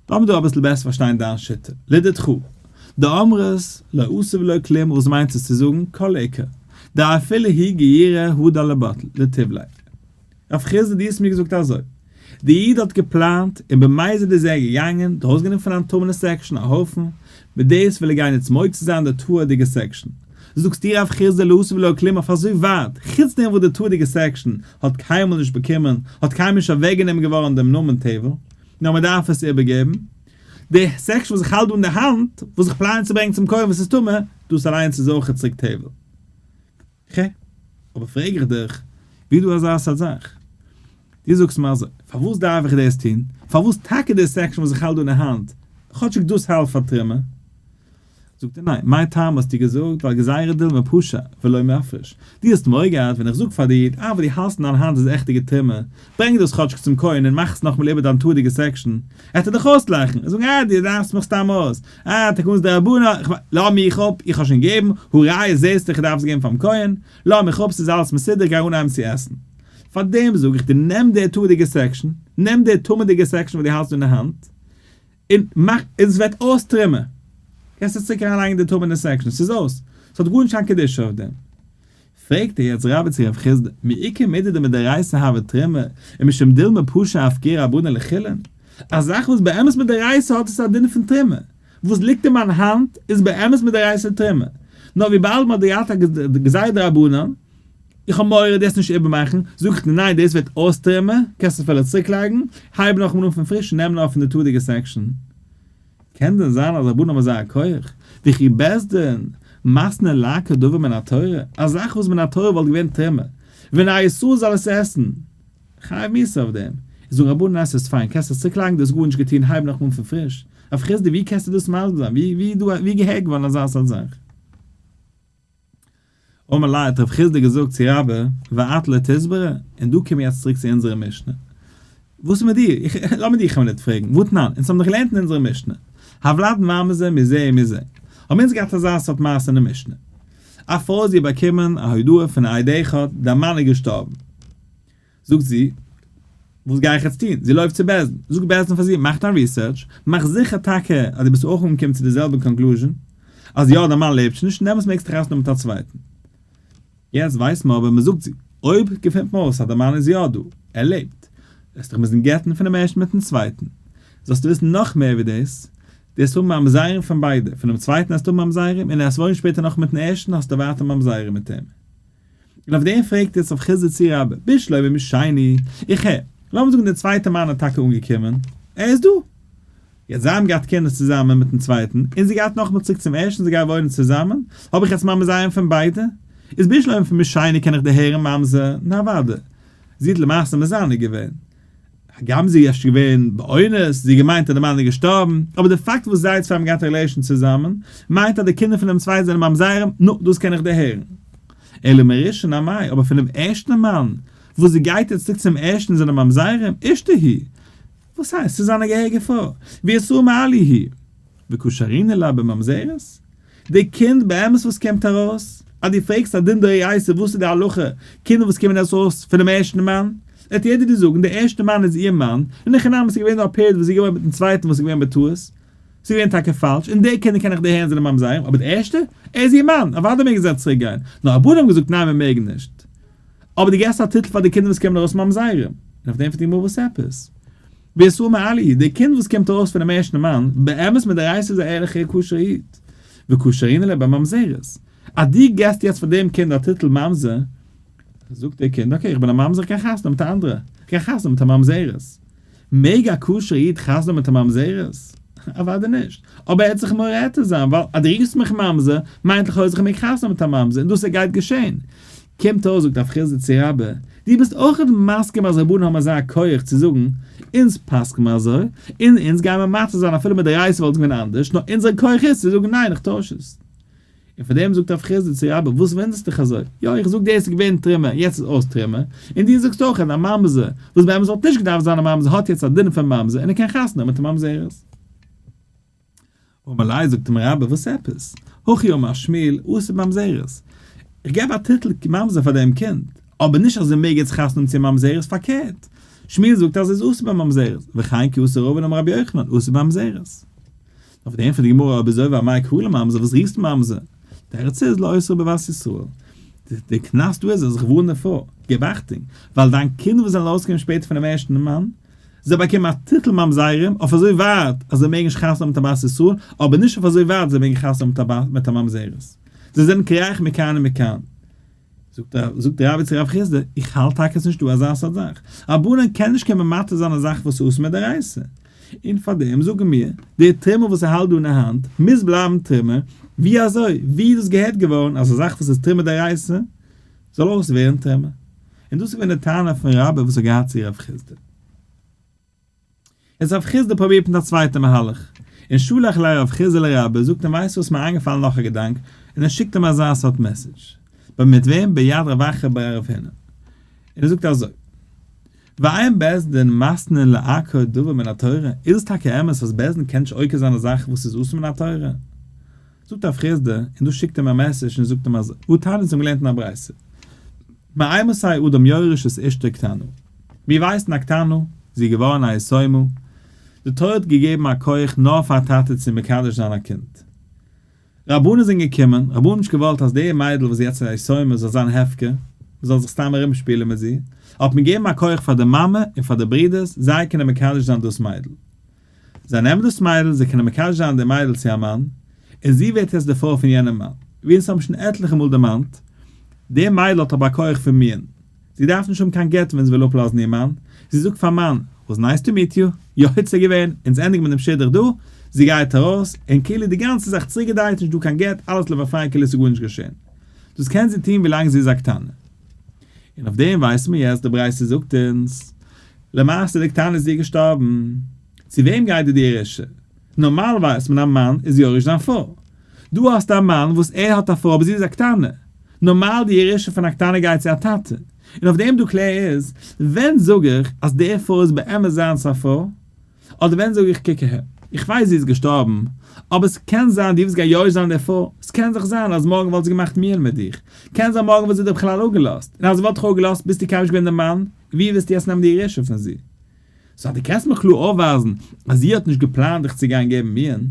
לאמיר דא אביסל בעסער פארשטיין דיין שיטה, לדת חו, די אמרת לא עשה ולא כלום וואס מיינט עס צו זאגן כל עיקר דאפילו הי' געירא הדא לבטל לטיב ליה, רב חיסדא דו האסט מיר געזאגט אזוי, די איד האט געפלאנט און במזיד איז ער געגאנגען דאס גענומען פון אן טמא'נע סעקשאן א הויפן, מיט דאס וויל ער גיין יעצט מוציא זיין די תאוה'דיגע סעקשאן. זאגסטו רב חירז די לאסו ולא כלום אויף אזוי ווייט, חוץ דעם וואס די תאוה'דיגע סעקשאן האט קיינמאל נישט באקומען, האט קיינמאל נישט אוועקגענומען געווארן דעם נאמען תבל, נאר מען דארף עס איבערגעבן. די סעקשאן וואס איך האלט דא אין די האנט, וואס איך פלאן צו ברענגען צום כהן וואס איז טמא, דאס אליינס איז אויך צוריק תבל. ח. אבער פרעג איך דיך, ווי דא אזא סארט זאך? דו זאגסט מיר אזוי, פארוואס דארף איך דאס טון? פארוואס טאקע די סעקשאן וואס איך האלט דא אין האנט? כאטשיג דאס האלט פאר טרימער. זאגט ער ניין, מיין טעם האסטו געזאגט ווייל גזירא דילמא פשא ולא מפרש. דו האסט מורא געהאט ווען איך זאג פאר דיר די ארבעט דו האלסט אין דיין האנט איז עכט די געטרימער, ברענג דאס כאטשיג צום כהן און מאך עס נאכמאל איבער דיין תורה'דיגע סעקשאן. עט ער דיך אויסלאכן און זאגן אה דו לאכסט מיך סתם אויס, אה, טאקע אונז די רבנים, איך מיין, לאמיר מיך אפ, איך האב שוין געגעבן, הראיה זעסטו איך דארף עס געבן פארן כהן, לאמיר מיך אפ ס'איז אלעס מסודר גיי אנהייבן צו עסן. פארדעם זאג איך דיר נעם די תורה'דיגע סעקשאן, נעם די טעמה'דיגע סעקשאן וואס דו האלסט דא אין האנט, און מאך, און עס וועט אויסטרימען, קענסט עס צוריק אריינלייגן אין די טעמה'נע סעקשאן, ס'איז אויס, ס'האט גארנישט קיין קדושה אויף דעם. פרעגט ער יעצט רבי צו רב חסדא, מעיקר מידי דמדאורייתא הוה תרומה, ומשום דילמא פשא הפקיר רבנא לחילן? א זאך וואס באמת מדאורייתא האט עס א דין פון תרומה, וואס ליגט אין מיין האנט איז באמת מדאורייתא תרומה, נאר וויבאלד מען האט געהאט א גזירא דרבנן, איך האב מורא דאס נישט איבערמאכן, זאגט ער ניין דאס ווערט אויס תרומה, קענסט עס אפילו צוריקלייגן, הייב נאכאמאל אן פון פריש און נעם נאר פון די תורה'דיגע סעקשאן. קען דען זיין אז רבנים האבן אזא כח? וויכי בעס ד, מסנ ל ק דבר מן התורה, א זאך וואס מן התורה וואלט געווען טעמע, ווען א איסור זאל עס עסן, חייב מיסט אויף דעם, איז זאגן רבנים ניין ס'איז פיין, קענסט עס צוקלייגן דו האסט גארנישט געטון הייב נאכאמאל פון פריש, הרב חסדאי ווי קענסטו דאס מסביר זיין, ווי איז דא ווי איז געהערט געווארן אזא סארט זאך? אמר ליה האט רב חיסדא געזאגט צו רבה ואט ל תסברא, און דא קום מיר יעצט צוריק צו אונזערע משנה, וואס איז מיט דיר, איך, לאמיר דיר חלילה ניט פרעגן, ואתנן, אונז האבן דאך געלערנט אין אונזערע משנה, הוולד מה מזה מזה מזה, האבן אונז געהאט אזא סארט מעשה אין די משנה, א פרוי האט זי באקומען א הודעה פון א איד אחד, דער מאן איז געשטארבן, זאגט זי, וואס גיי איך יעצט טון? זי לויפט צו בעש ט, זאגט בעש ט פאר זי, מאך דיין ריסערטש, מאך זיכער טאקע אז דו ביסט אויך אנגעקומען צו די זעלבע קאנקלוזשען, אז יא דיין מאן לעבט שוין נישט, דעמאלטס מעגסטו דיך אויסנעמען מיט א צווייטן. יעצט ווייס מען אבער, מען זאגט זי, אויב געפינט מען אויס אז די מאן איז יא דא, ער לעבט, וועסטו דיך מוזן גט'ן פון דעם ערשטן מיטן צווייטן. זאלסטו וויסן נאך מער ווי דאס, דו וועסט האבן ממזרים פון ביידע, פונעם צווייטן וועסטו האבן ממזרים, און עס וואוינט שפעטער נאך מיטן ערשטן האסטו ווייטער ממזרים מיט אים. און אויף דעם פרעגט עטס אויף חסדי צי רבי ביש לוי משייני, איך הער, לאמיר זאגן דער צווייטער מאן איז טאקע אנגעקומען, ער איז דא, יעצט זיי האבן געהאט קינדער צוזאמען מיטן צווייטן, און זי געהאט נאכמער צוריק צום ערשטן זיי גייען וואוינען צוזאמען, האב איך יעצט ממזר איינעם פון ביידע, איז ביש לוי משייני קען איך דערהערן ממזר, נארוואדע, זי האט למעשה מזנה געווען. הגם זי איז געווען באונס, זי האט געמיינט אז די מאן איז געשטארבן, אבער די פאקט וואס זיי צוויי האבן געהאט א רילעישאן צוזאמען, מיינט אז די קינדער פון דעם צווייטן זענען ממזרים, נו, דאס קען איך דערהערן. אלא מראשון עמי, אבער פון דעם ערשטן מאן, וואס זי גייט יעצט צוריק צום ערשטן זענען ממזרים, אשתו היא. וואס הייסט? ס'איז זיין א געהעריגע פרוי, והיא אסורה מעליה היא. וקושרין אליו בממזרות? די קינד באמת וואס קומט ארויס, אז דו פרעגסט א דין דאורייתא וואס איז די הלכה, קינדער וואס קומען ארויס אויס פונעם ערשטן מאן, וועט יעדער דיר זאגן די ערשטע מאן איז איר מאן, און הכי נמי ס'איז געווען דא א פערד וואס איז געווארן מיטן צווייטן וואס איז געווען בטעות, ס'איז געווען טאקע פאלש, און די קינדער קען איך דערהערן זענען ממזרים, אבער די ערשטע? ער איז איר מאן, אוודאי מעגן זיי צוריק גיין, נאר רבנן האבן געזאגט ניין מען מעג נישט, אבער דו געסט א טיטל פאר די קינדער וואס קומען ארויס ממזרים, און אויף דעם פרעגט די גמרא וואס עפעס? ווער איז סאמע אלי? די קינד וואס קומט ארויס פונעם ערשטן מאן, באמת מיט די רייס איז א ערליכער כשר'ע איד. וקושרין ליה בממזרות. אז דו געבסט יעצט פאר דעם קינד א טיטל ממזר, זאגט דער קינד, אקעי, איך בין א ממזר, איך קען חתונה מיט א אנדערע. איך קען חתונה מיט א ממזרת. מעג א כשר'ע איד חתונה מיט א ממזרת? אוודאי נישט. אבער ער העט זיך מראה עטרת זיין, ווייל אז דו רופסט מיך ממזר, מיינט לכאורה אז איך מעג חתונה מיט א ממזר, און דאס ער גייט געשען. קומט אויס זאגט הרב חזליצער רבי, דו ביסט אויך מסכים אז רבנים האבן אזא כח צו זאגן, אונז פסק'ן מיר אזוי, און אונז גייען מיר מוותר זיין אפילו מדאורייתא וואלט געווען אנדערש, נאר אונזער כח איז צו זאגן ניין איך טויש עס. און פאר דעם זאגט הרב חזליצער רבי, וואס וואונדערסטו דיך אזוי, יא איך זאג דאס איז געווען טרימער יעצט איז אויס טרימער, און דו זאגסט אויך אז א ממזר, וואס באמת וואלט נישט געדארפט זיין א ממזר האט יעצט א דין פון ממזר און איז קיין חתן נאר מיט א ממזרת. אמר לי, זאגט אים רבי, וואס עפעס? הכי אמר שמואל, אסור ממזרות. איך געב א טיטל ממזר פאר דעם קינד, אבער נישט אז ער מעג יעצט חתונה האבן צו ממזרות, פארקערט, שמואל זאגט אז עס איז אסור בממזרות, וכן כי אסר ראובן אמר רבי יוחנן, אסור במזרות. אויף דעם ענטפערט די גמרא, אויב אזוי וואו מאי קרא לממזר, וואס רופסטו ממזר? תירוץ איז, לא אסרו בבת ישראל. די קנס דא איז אז איך ווארן דערפאר, געב אכטונג, ווייל דיין קינד וואס זענען ארויסגעקומען שפעטער פונעם ערשטן מאן, זיי באקומען א טיטל ממזרים אויף אזוי ווייט אז זיי מעגן נישט חתונה מיט א בת ישראל, אבער נישט אויף אזוי ווייט זיי מעגן חתונה מיט א בת מיט א ממזרת. זיי זענען קרח מכאן ומכאן. זאגט א זאגט די רבי צו רב חיסדא, איך האלט טאקע ס'נישט דא אזא סארט זאך. א בנן קען נישט קומען מבטל זיין א זאך וואס איז אסור מדאורייתא. און פאר דעם זאגן מיר, דער טרימעל וואס ער האלט דא אין האנט, מוז בלייבן טרימעל. ווי אזוי? ווי איז דאס געהערט געווארן אז א זאך וואס איז טרימעל דאורייתא, זאל אויס ווערן טעמע, און דאס איז געווען די טענה פון רבי וואס האט געהאט צו רב חסדא. איז רב חסדא פרובירט מיט א צווייטע מהלך, און שלח אלי רב חסדא אל הרבי, זאגט אים ווייסט וואס מיר איינגעפאלן נאך א געדאנק, און ער שיקט אים אזא סארט מעסעדזש, בה מיט וועם ביד רווחה ביי רב הינער, און ער זאגט אזוי, והאם בית דין מסנן לעקר דבר מן התורה, איז עס טאקע אמת אז בית דין קען נישט עוקר זיין א זאך וואס איז אסור מן התורה? זאגט א פריזדע און דאס שיקט אים א מעסעדזש און זאגט אים אז וואו תענית האבן געלערנט אין א ברייתא מאימת האי אדם יורש את אשתו קטנה. מיר ווייסן א קטנה, זי איז געווארן א יתומה, די תורה האט געגעבן א כח נאר פאר א טאטע צו מקדש זיין א קינד. רבנים זענען געקומען, רבנים האבן נישט געוואלט אז די מיידל וואס איז יעצט א יתומה זאל זיין הפקר, מ'זאל זיך סתם ארום שפילן מיט זי, האט מען געגעבן א כח פאר די מאמע און פאר די ברודערס זיי קענען מקדש זיין דאס מיידל. זיי נעמען דאס מיידל, זיי קענען מקשר זיין די מיידל צו א מאן, און זי ווערט יעצט די פרוי פון יענעם מאן. ווי אונז האבן שוין עטליכע מאל דערמאנט, די מיידל האט אבער א כח פון מין, זי דארף נישט האבן קיין גט ווען זי וויל אפלאזן איר מאן, זי זאגט פארן מאן, וואס נייס טו מיט יו, יא היצע געווען, אונז ענדיגן מיט דעם שידוך דא, זי גייט ארויס, און כאילו די גאנצע זאך צוריקגעדרייט, נישטא קיין גט, אלעס לבא פריי כאילו ס'איז גארנישט געשען. דאס קען זי טון ווילאנג זי איז א קטנה. און אויף דעם ווייסן מיר יעצט, די ברייתא זאגט אונז, למעשה די קטנה איז דיר געשטארבן? צו וועם גייט די דירה ש? נארמאל ווייסט מען א מאן איז יורש זיין פרוי. דא האסטו א מאן וואס ער האט א פרוי אבער זי איז א קטנה. נארמאל די ירושה פון א קטנה גייט צו א טאטע. און אויף דעם דו קלער איז, ווען זאג איך אז די פרוי איז באמת זיינס א פרוי? אדער ווען זאג איך קוק אהער, איך ווייס זי איז געשטארבן, אבער ס'קען זיין די וואס גייט יורש זיין די פרוי, ס'קען זיך זיין אז מארגן וואלט זי געמאכט מיעל מיט דיך, קען זיין מארגן וואלט זי דיר בכלל אפגעלאזט, און אז זי וואלט דיך אפגעלאזט ביסטו קיינמאל נישט געווען די מאן, ווי וועסטו יעצט נעמען די ירושה פון זי? סאו אז דו קענסט מיר קלאר אויפווייזן אז זי האט נישט געפלאנט דיך צו גיין געבן מיען,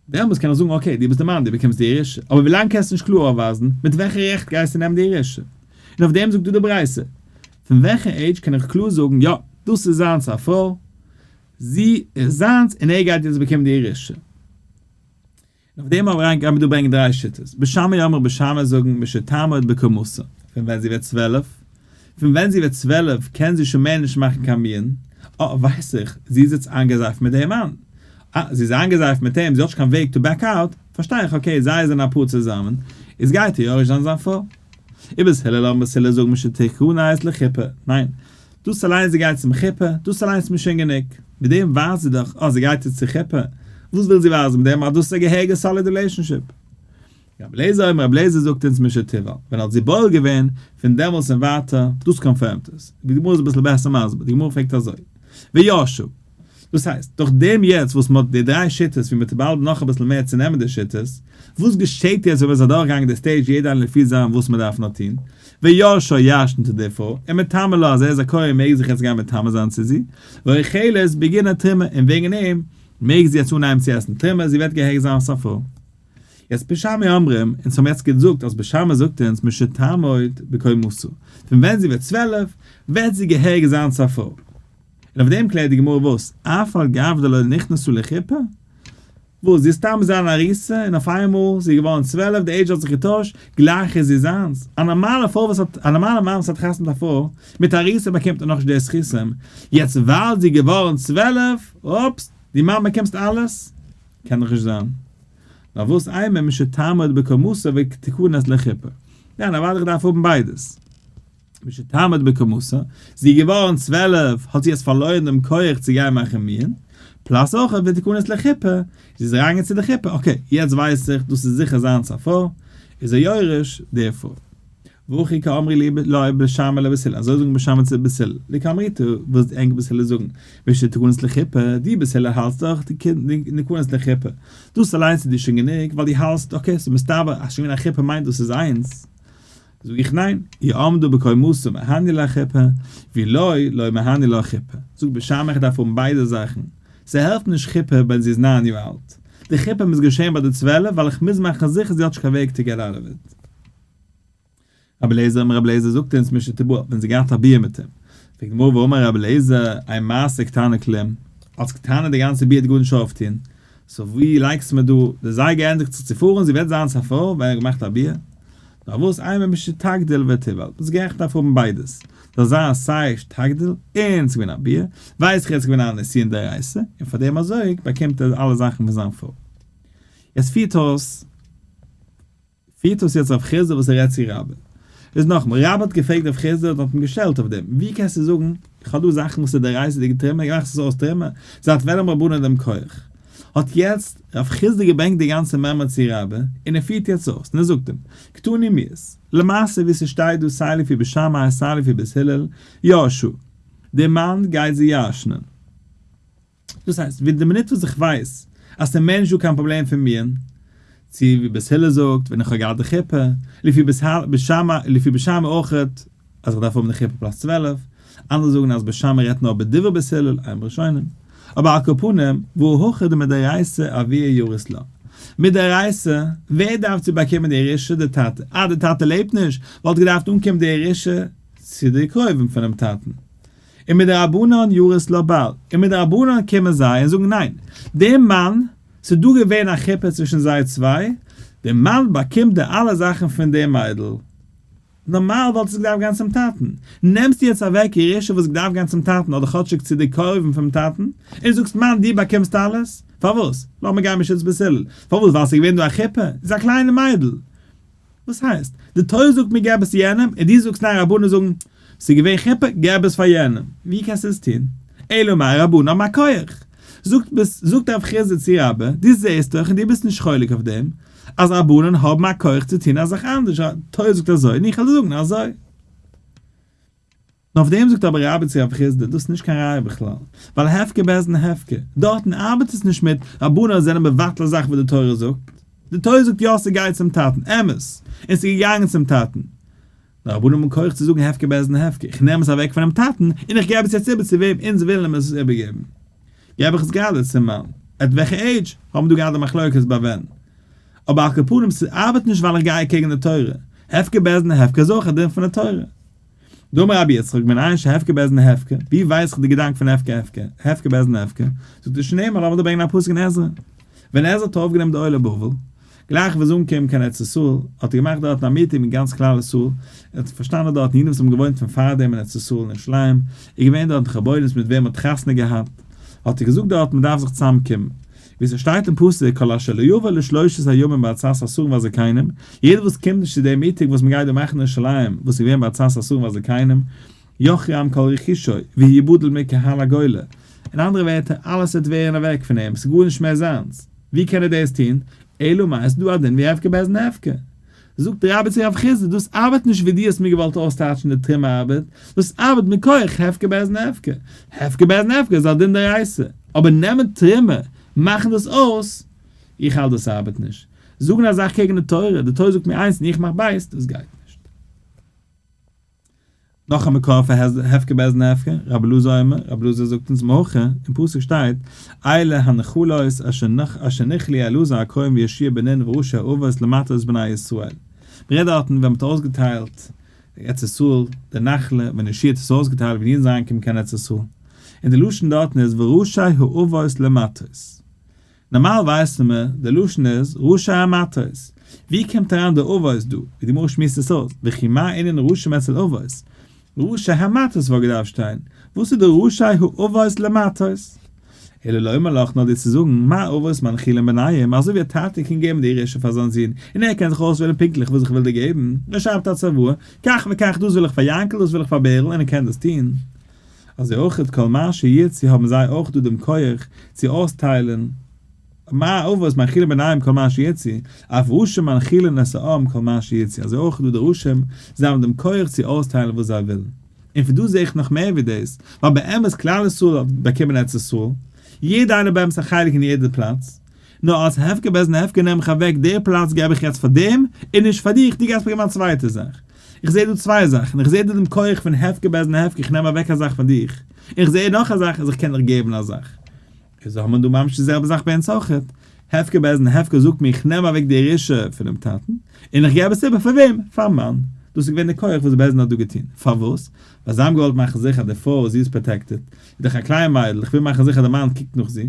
דעמאלטס קען איך זאגן אקעי דו ביסט די מאן דו באקומסט די ירושה, אבער ווילאנג קענסטו נישט קלאר אויפווייזן, מיט וועלכע רעכט גייסטו נעמען די ירושה? און אויף דעם זאגט דא די ברייתא, פון וועלכע עידזש קען איך קלאר זאגן יא דאס איז זיינס א פרוי, זי איז זיינס און ער גייט יעצט באקומען די ירושה? אויף דעם אריין גייט מען דא ברענגען דריי שיטות, בשמא יאמרו בשמא זאגן משתעמא את בקומתה, פון ווען זי ווערט צוועלף, פון ווען זי ווערט צוועלף קען זי שוין מער נישט מאכן קיין מין, אה ווייס איך, זי איז יעצט איינגעזייפט מיט דעם מאן, אה זי איז איינגעזייפט מיט אים, זי האט נישט קיין וועג טו בעק אוט, פארשטיי איך אקעי זיי זענען א פאר צוזאמען, איז גייט איר יורש זיין זיין פרוי. איבער ז הלל האבן בית הלל זאגן משתעמא את לחופה, ניין, דאס אליינס זי גייט צום חופה, דאס אליינס איז מיר שוין גענוג, מיט דעם ווייזט זי דאך אז זי גייט צו צו חופה, וואס וויל זי ווייזן מיט דעם אז דאס איז א געהעריגע סאליד רילעישאנשיפ? רבי אליעזר אויב רבי אליעזר זאגט אונז משא כ ווען האט זי בועל געווען, פון דעמאלס און ווייטער, דאס קאנפירמט עס, די גמרא איז אביסל בעסער מסביר, די גמרא פרעגט אזוי, וישוב. דאס הייסט, דורך דעם יעצט וואס מ'האט די דריי שיטות ווי מ'טוט באלד נאך אביסל מער צונעמען די שיטות, וואס געשעט יעצט ווען מ'איז אדורכגעגאנגען די סטעידזש יעדער איינער לפי זיין וואס מ'דארף נאר טון, וישר ישן טו די פרוי, און מטמא לה אז ער איז א כהן מעג זיך יעצט גיין מטמא זיין צו זי, ואוכלת בגין התרומה, און וועגן דעם מעג זי יעצט אנהייבן צו עסן תרומה, זי וועט געהרג'ט זיין אלס א פרוי. יעצט בשמי אומרים, אונז האבן יעצט געזאגט אז בשמי זאגט אונז משתמות בקומתו, פון ווען זי ווערט צוועלף וועט זי געהרג'ט זיין צו א פרוי. און אויף דעם קלערט די גמרא וואס? אף על גב דלא נכנסו לחופה? וואס זי איז סתם געזען אן אריסה און אויף איינמאל איז זי געווארן צוועלף, די עידזש האט זיך געטוישט, גלייך איז זי זיינס? א נארמאלע פרוי וואס האט, א נארמאלע מאן וואס האט חתונה מיט א פרוי מיט אריסה באקומט ער נאכנישט די זכותים, יעצט ווייל זי איז געווארן צוועלף, אופס, די מאן באקומסט אלעס? קען דאך נישט זיין. נאר וואס איינמאל מי שתעמוד בקומתה ותיכנס לחופה. ניין אוודאי איך דארף האבן ביידעס. משתעמד בכמוסה, זי איז געווארן צוועלף האט זי עס פארלוירן דעם כח צו גיין מאכן מנין, פלאס אויך ותיכנס לחופה, זי איז אריינגעגאנגען צו די חופה, אקעי יעצט ווייס איך דאס איז זיכער זיינס א פרוי איז ער יורש דערפון. והכי כאמרי לי לאי בת שמע לבת הילל, אזוי זאגן בת שמע צו בת הילל, לי כאמריתא וואס די ענק בת הילל זאגן, ושתיכנס לחופה, די בת הילל האלטסט דאך די קינד ניכנס לחופה, דאס אליינס איז דיר שוין גענוג ווייל די האלטסט אקעי ס'מסתבר אז שוין א חופה מיינט דאס איז זיינס, זאג איך ניין, יעמדו בקומתו מהני לה כיפה, ווי לא לא מהני לה כיפה, זאג בשם איך דארף האבן ביידע זאכן, ס'העלפט נישט כיפה ווען זי איז נײַן יאר אלט, די כיפה מוז געשען ביי די צוועלף ווייל איך מוז מאכן זיכער זי האט נישט קיין וועג טו געט אוט אוו איט. רבי אליעזר אמר רבי אליעזר זאגט אונז משנה תבואה ווען זי געהאט א ביה מיט אים, פרעגט די גמרא ואמר רבי אליעזר אי מעשה קטנה כלום, אלס קטנה די גאנצע ביה האט גארנישט ש אויף טון, סאו ווי לייגסטו מיר דא, די זייגער ענדיגט זיך צו פאר און זי וועט זיין צפור ווען ער האט געמאכט א ביה, פארוואס איינמאל ביסט שתגדיל ותבעל ביסט גערעכט דארף האבן ביידעס, זאל זיין סיי שתגדיל און ס'געווען א ביה, ווייס איך אז ס'געווען א נסיון דאורייתא, און פאר דעם אזוי באקומט ער אלע זאכן פון זיין פרוי. יעצט פירט אויס פירט אויס יעצט רב חיסדא וואס ער רעדט צו רבא. איז נאכאמאל, רבא האט געפרעגט רב חיסדא און האט אים געשטעלט אויף דעם, ווי קענסטו זאגן איך האב דא זאכן וואס איז דאורייתא'דיגע טומאה געמאכט עס אויס טומאה, זייט ווען האבן רבנן דעם כח? האט יעצט ר' חסדא געברענגט די גאנצע מעמא צו רבא, און ער פירט יעצט אויס, און ער זאגט אים, קטני מיעוס. למעשה ווי ס'שטייט דא סיי לפי בית שמאי סיי לפי בית הלל, יאשו, דער מאן גייט זיי ירשנ'ען. דאס הייסט, ווי די מינוט וואס איך ווייס אז ס'מער נישט דא קיין פראבלעם פון מיען, צו ווי בית הלל זאגט ווען איך האב געהאט די חופה, לפי בית הלל, בית שמאי, לפי בית שמאי אויך, אז איך דארף האבן די חופה פלאס צוועלף, אנדערע זאגן אז בית שמאי רעדט נאר בדברי בית הלל, איין בראשונים, אבער על כל פנים, והוא הוכא דמדאורייסא אביה יורס לה. מדאורייסא, ווער דארף צו באקומען די ירושה? די טאטע. אז די טאטע לעבט נישט, וואלט געדארפט אנקומען די ירושה צו די קרובים פונעם טאטן. און מדרבנן יורס לה בעל, און מדרבנן קומען זיי און זאגן ניין, דער מאן, ס'איז דא געווען א חופה צווישן זיי צוויי, דער מאן באקומט די אלע זאכן פון דער מיידל, נארמאל וואלט עס געדארפט גיין צום טאטן, נעמסטו יעצט אוועק ירושה וואס געדארפט גיין צום טאטן אדער כאטשיג צו די קרובים פונעם טאטן, און זאגסט מאן דו באקומסט אלעס? פארוואס? לאמיר גיין משה'ס בעסילעל, פארוואס ווייל ס'איז געווען דא א חופה? זי איז א קליינע מיידל, וואס הייסט? די תורה זאגט מיר געב עס יענעם און דו זאגסט ניין רבנות זאגן ס'איז געווען חופה געב עס פאר יענעם, ווי קענסטו עס טון? אלא מאי רבנן האבן א כח. זאגט ביסט זאגט הרב חייא זצ י רבי דו זעהסט דאך און דו ביסט נישט חולק אויף דעם אז רבנן האבן א כח צו טון א זאך אנדערש, די תורה זאגט אזוי און איך העל זאגן אזוי. נאר אויף דעם זאגט אבער רבי צו רבי חסדא, דאס איז נישט קיין ראיה בכלל, ווייל הפקר בעסן הפקר, דארטן ארבעט עס נישט מיט, רבנן זענען מבטל א זאך וואס די תורה זאגט, די תורה זאגט יא ס'גייט צום טאטן, אמת, און ס'איז געגאנגען צום טאטן, נאר רבנן האבן כח צו זאגן הפקר בעסן הפקר, איך נעם עס אוועק פונעם טאטן, און איך געב עס יעצט איבער צו וועם אונז ווילן אים עס איבערגעבן, געב איך עס גראדע צום מאן, עט וועלכע עידזש, האבן דא געהאט א מחלוקת ביי ווען, אבער על כל פנים ס'ארבעט נישט ווייל איך גיי אקעגן די תורה, הפקר בעסן הפקר איז אויך א דין פון די תורה. דאמר רבי יצחק בין איש הפקר בעזן הפקר, ווי ווייס איך די געדאנק פון הפקר הפקר, הפקר בעזן הפקר, זאגט ער שנעל מאר לאמיר דא ברענגען א פסוק אין עזרא, ווען עזרא האט אויפגענומען די עולי בבל, גלייך וואס זיי אנקומען קיין ארץ ישראל, האט ער געמאכט דארטן א מיטינג מיט גאנץ כלל ישראל, ער האט פארשטאנען דארטן אידן וואס האבן געוואוינט פון פארדעם אין ארץ ישראל אין ירושלים, איז געווען דארטן חבורות מיט וועם מען האט חתונה געהאט, האט ער געזאגט דארט מען דארף זיך צוזאמקומען, ווי ס'שטייט אין פסוק כל אשר לא יבוא לשלושת הימים בארצת אסורים והזקנים, יעדער וואס קומט נישט צו דעם מיטינג וואס מ'גייט דא מאכן אין ירושלים וואס איז געווען בארצת אסורים והזקנים, יוחרם כל רכושו, והוא יבודל מקהל הגולה, אין אנדערע ווערטער אלעס וועט ווערן אוועק פון אים, ס'איז גארנישט מער זיינס, ווי קען ער דאס טון? אלא מאי, ס'איז דא א דין ווי הפקר בעזן הפקר, זאגט דער רבי צו רב חיסדא, דאס ארבעט נישט ווי דו האסט מיר געוואלט אויסטייטשן די טעם ארבעט, דאס ארבעט מכח הפקר באזן הפקר, הפקר באזן הפקר איז א דין דאורייתא, אבער נעמען טעמער, מאכן דאס אויס, איך האלט דאס ארבעט נישט, זאגן א זאך קעגן די תורה, די תורה זאגט מיר איינס און איך מאך בייז, דאס גייט נישט. נאך א מקור פאר הפקר בעז נ הפקר, רבי אלעזר אומר, רבי אלעזר זאגט אונז מהכא, אין פסוק שטייט, אלה הנחלות אשר נכלי אלעזר הכהן וישעי' בנין וראשי האבות למטות בני ישראל. מ'רעדט דארטן ווען מ'האט אויסגעטיילט ארץ ישראל, די נחלה, ווען ישעי' האט עס אויסגעטיילט ווען אידן זענען אנגעקומען קיין ארץ ישראל. און די לשון דארטן איז וראשי האבות למטות. נארמאל ווייסן מיר, די לשון איז רשע המטות. ווי קומט אריין די אבות דא? די גמרא שמועסט עס אויס, וכי מה ענין רשעים אצל אבות? רשע המטות וואלט געדארפט שטיין, וואס איז די רשעי האבות למטות? אלא לומר לך נאר דיר צו זאגן, מה אבות מנחילים בניהם, אזוי ווי א טאטע קען געבן די ירושה פאר זיין זון, און ער קען זיך אויסוועלן פונקטליך וואס איך וויל דיר געבן, ער שרייבט א צוואה, כך וכך דאס וויל איך פאר יענקל דאס וויל איך פאר בערל און ער קען דאס טון. אזוי אויך את כל מה שירצי האבן זיי אויך דא דעם כח צו אויסטיילען מה אבות מאכילין בניהם כל מה שירצי אף רשע מנכילין נשאם כל מה שירצי אזוי אויך דא די רשעים זיי האבן דעם כח צו אויסטיילען וואס זיי ווילן און פון דא זעה איך נאך מער ווי דאס ווייל באמת כלל ישראל האט באקומען ארץ ישראל יעדע איינער באמת א חלק אין יעדע פלאץ נאר אלס הפקר בעז נ הפקר נעם איך אוועק דער פלאץ געב איך יעצט פאר דעם און נישט פאר דיך דו גייסט באקומען א צווייטע זאך איך זעה דא צוויי זאכן, איך זעה דא דעם כח פון הפקר בעז נ הפקר איך נעם אוועק א זאך פון דיך, און איך זעה נאך א זאך אז איך קען דיך געבן א זאך. איז האט מען דא ממש די זעלבע זאך ביי אונז אויכעט, הפקר בעז נ הפקר זאגט מיר איך נעם אוועק די ירושה פונעם טאטן, און איך געב עס איבער פאר וועם? פארן מאן. דאס איז געווען די כח וואס בעז נ האט דא געטון. פארוואס? ווייל זיי האבן געוואלט מאכן זיכער די פרוי זי איז פראטעקטעד, איז דאך א קליין מיידל, איך וויל מאכן זיכער די מאן קוקט נאך זי,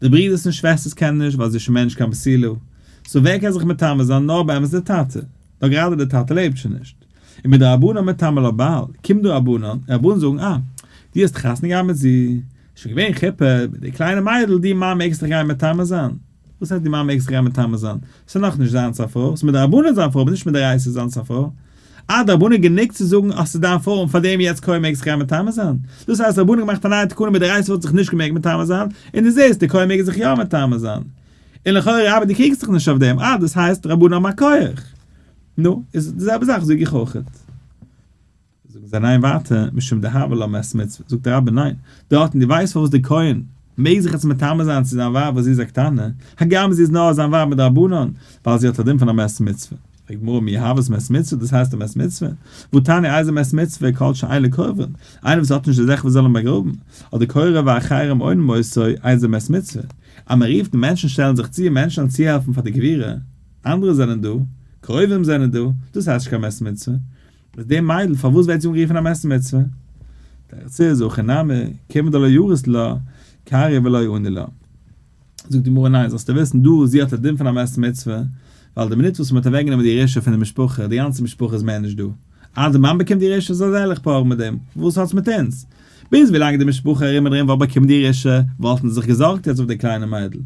די ברידערס און שוועסטערס קענען נישט ווייל זי איז שוין מער נישט קיין בסילו. סאו ווער קען זיך מטמא זיין? נאר באמת די טאטע. נאר גראדע די טאטע לעבט שוין נישט. און מיט די רבנן מטמא לא בעל, קומט דו רבנן, רבנן זאגן אה, דו האסט חתונה געהאט מיט זי, שוין געווען חופה, מיט די קליינע מיידל, דו מאן מעגסט דיך גיין מטמא זיין? וואס הייסט דו מאן מעגסט דיך גיין מטמא זיין? ס'איז נאכנישט זיינס א פרוי. ס'איז מיט די רבנן זיין פרוי אבער נישט מיט די רייסערס זיינס א פרוי. אה, די רבנן גענוג צו זאגן אז ס'איז דיין פארום פאר דעם יעצט קוים מעגסטו גיין מטמא זיין? דאס הייסט די רבנן האבן געמאכט א נייע תקנה מיט די רייסער וואלט זיך נישט געמעגט מטמא זיין, און דו זעסט די קוים מעגן זיך יא מטמא זיין. און לכאורה אבער דו קריגסט דיך נישט אויף דעם, אה דאס הייסט די רבנן האבן א כח. נו, איז די זעלבע זאך זאג איך אויכעט. זאגן זיי ניין ווייטער, משום דהוה לא מעת מצוה, זאגט די רבי ניין, דארטן דו ווייסט פארוואס די קוים מעג זיך יעצט מטמא זיין צו זיין ווייב וואס זי איז א קטנה, הגם זי איז נאר זיין ווייב מדרבנן, ווייל זי האט א דין פון א מעת מצוה. די גמרא מי האוות מת מצוה, דאס הייסט די מת מצוה? וואו תניא איזה מת מצוה כל שאין לו קרובים, איינער וואס האט נישט די זכר וואס זאל אים באגראבן, אדער קרוב א אחרים אינם מוסר איזה מת מצוה, אז מען רופט מענטשן שטעלן זיך צו מענטשן אן צוהעלפן פאר די קבירה, אנדערע זענען דא, קרובים זענען דא, דאס הייסט נישט קיין מת מצוה, איז די מיידל פארוואס ווערט זי אנגערופן א מת מצוה? תירץ איז, הכי נמי, כיוון דלא יורס לה, קרי ולא עונה לה. זאגט די גמרא ניין, זאלסטו וויסן דא זי האט א דין פון א מת מצוה, ווייל די מינוט וואס מ'האט אוועקגענומען די ירושה פון די משפחה, די גאנצע משפחה איז מער נישט דא, אז די מאן באקומט די ירושה זאל זי זיך פארן מיט דעם, וואס האטס מיט אונז? ביז ווילאנג די משפחה ארום און ארום וואלט באקומען די ירושה, וואלטן זיי זיך געזארגט יעצט אויף די קליינע מיידל.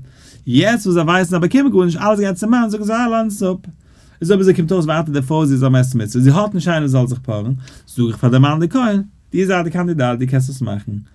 יעצט וואס זיי ווייסן זיי באקומען גארנישט, אלעס גייט צום מאן, זאגן זיי אה לאזן עס אפ. איז אויב זי קומט אויס ווייטער די פרוי זי איז א מת מצוה, זי האט נישט איינער זאל זיך פארן, זאג איך פאר די מאן די כהן, דו זייט די קאנדידאט דו קענסט עס מאכן,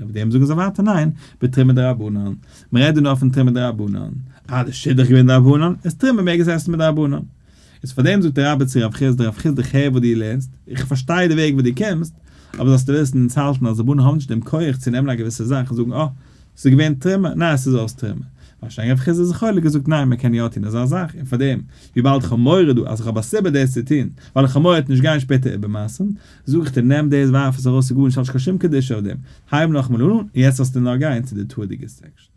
אויף דעם זאגן זיי ווייטער ניין, בתרומה דרבנן, מ'רעדט דא נאר פון תרומה דרבנן, אה די שידוך איז געווען דרבנן, איז תרומה מעג עס עסן מדרבנן. איז פאר דעם זאגט דער רבי צו רב חיסדא, רב חיסדא כ'הער וואס דו לערנסט, איך פארשטיי די וועג וואס דו קומסט, אבער זאלסטו וויסן אונז האלטן אז רבנן האבן נישט דעם כח צו נעמען א געוויסע זאך און זאגן אה, ס'איז געווען תרומה, ניין ס'איז אויס תרומה. ווארשיינליך רב חיסדא איז חולק געזאגט ניין מ'קען יא טון אזא זאך, און פאר דעם וויבאלד כ'האב מורא דא אז כ'האב א סיבה דאס צו טון, ווייל איך האב מורא צו נישט גיין שפעטער איבערמאסן, זאג איך דיר נעם דאס ווארף עס ארויס ס'איז גארנישט האט נישט קיין שום קדושה אויף דעם, הייב נאכאמאל אן און יעצט זאלסטו נאר גיין צו די תורה'דיגע סעקשאן.